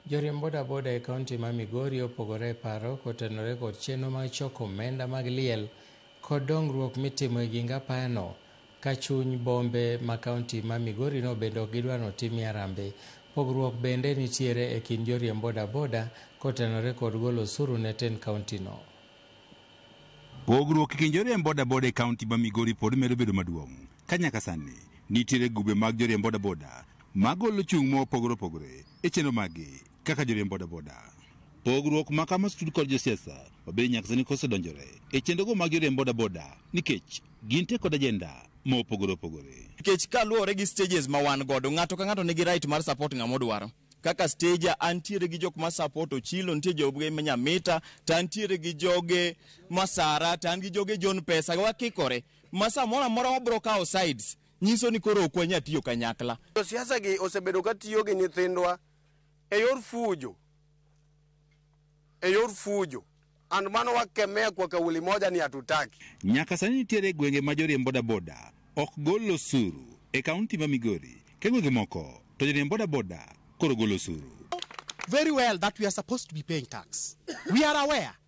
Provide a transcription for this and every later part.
Joriemb boda boda e kaunti ma Migori opogore e paro kotenore kod chenro mag choko omenda mag liel kod dongruok mitimo e ging apayano ka chuny bombe ma kaunti ma Migori no bende ok gidwar notimie arambe. Pogruok bende nitiere e kind joriemb boda boda kotenore kod golo osuru ne tend kaunti no. Pogruok e kind joriemb boda boda e kaunti ma Migori pod medo bedo maduong'. ka nyaka sani nitiere grube mag joriemb bodaboda magolo chung' mopogore opogore e chenro maggi kaka joriemb bodaboda. Pogruok ma kama stud kod josiasa obedo nyaka sani kosedonjore e chenrogo mag joriemb bodaboda nikech gin te kod ajenda mopogore opogore. Nikech kaluwore gi stages ma wan godo, ng'ato ka ng'ato nigi right mar support ng'ama odwaro. Kaka stage antiere gi jok ma support Ochilo, nitie joge ma Nyamita, to antiere gi joge Masara, to an gi joge John Pesa, wakikore. ma samoro amora wabro kawo sides nyiso ni koro ok wanya tiyo kanyakla. Josiasa gi osebedo ka tiyo gi nyithindwa e yor fujo, e yor fujo and mano wakemea kwa kauli moja ni hatutaki. Nyaka sani nitiere gwenge ma joriemb bodaboda ok gol osuru e kaunti ma Migori to e gwenge moko to joriemb bodaboda koro golo osuru. very well that we are supposed to be paying tax. We are aware.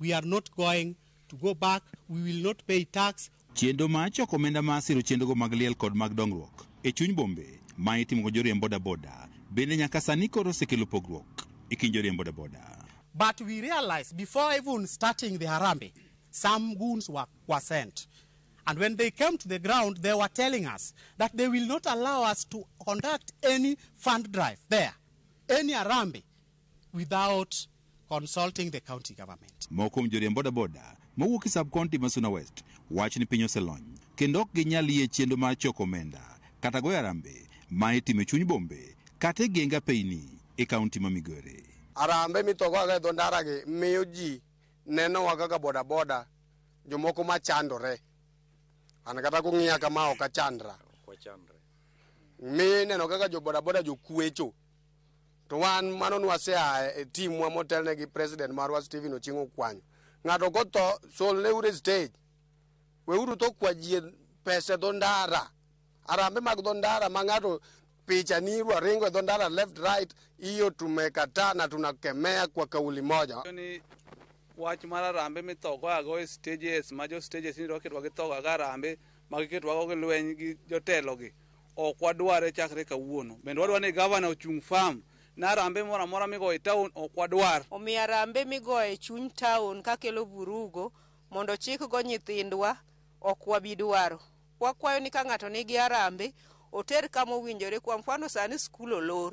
We are not going to go back. We will not pay tax. Chenro ma choko omenda ma siro chenrogo mag liel kod mag dongruok e chuny bombe ma itimo kod joriemb bodaboda bende nyaka sani koro osekelo pogruok e kind joriemb bodaboda. But we realized before even starting the Harambee, some goons were, were sent. And when they came to the ground, they were telling us that they will not allow us to conduct any fund drive there, any Harambee without consulting the county government. Moko kuom joriemb bodaboda mawuok e sub-county ma Suna West wacho ni piny oselony kendo ok ginyal yie chenro mar choko omenda kata goyo arambe ma itimo e chuny bombe kata e genge apeyini e kaunti ma Migori. Arambe mitogoga e dho ndaragi miyo ji nenowa kaka bodaboda jomoko ma chandore. An kata kung'iya kama ok achandra. Miyo ineno kaka jo bodaboda jokwecho. to wan mano nwaseaye e timwa motelne gi president marwa Stephen Ochieng Okwanyo ng'ato kotho solne ure stage weuru to kwa jie pese dho ndara arambe mag dho ndara ma ng'ato picha ni irwa ringo e dho ndara left right iyo tumekataa na tunakemea kwa kauli moja ni wach mar arambe mithogo ago e stages ma jo stages ni roketwa githogo ago arambe ma giketwago gi lweny gi jotelogi Ok wadware chakre kawuono. Bende wadwaro ni gavana ochung firm ni arambe moro amora migoyo e taon ok wadwar. Omiyo arambe migoyo e chuny taon kakelo vurugo mondo ochik go nyithindwa ok wabi dwaro. Wakwayo ni ka ng'ato nigi arambe oter kama owinjore kwa mfano sani skul olor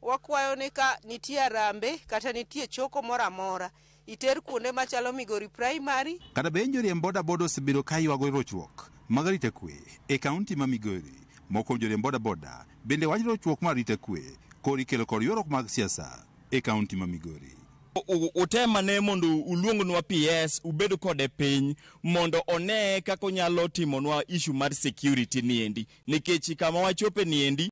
Wakwayo ni ka nitie arambe kata nitie choko moro amora, iter kuonde machalo Migori Primary, Kata be joriemb boda boda osebedo ka ywago rochruok mag arita kwe e kaunti ma Migori. Moko kuom joriemb boda boda bende wacho ni rochruok mar arita kwe koro ikelo kod ywaruok mag siasa e kaunti ma Migori. Utem ane mondo uluongnwa PS ubed kode piny mondo one kaka onyalo timonwa issue mar security niendi nikech kama wachope niendi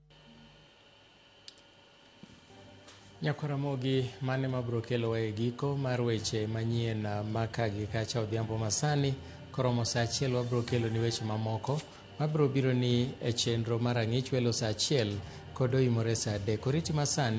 Nyako Ramogi, mane ma biro kelowa e giko mar weche manyien ma ka gi kacha odhiambo masani. Koromo sa achiel wabiro kelo ni weche mamoko mabiro biro ni e chenro mar ang'ich welo sa achiel kod oimore sa adek. Oriti masani.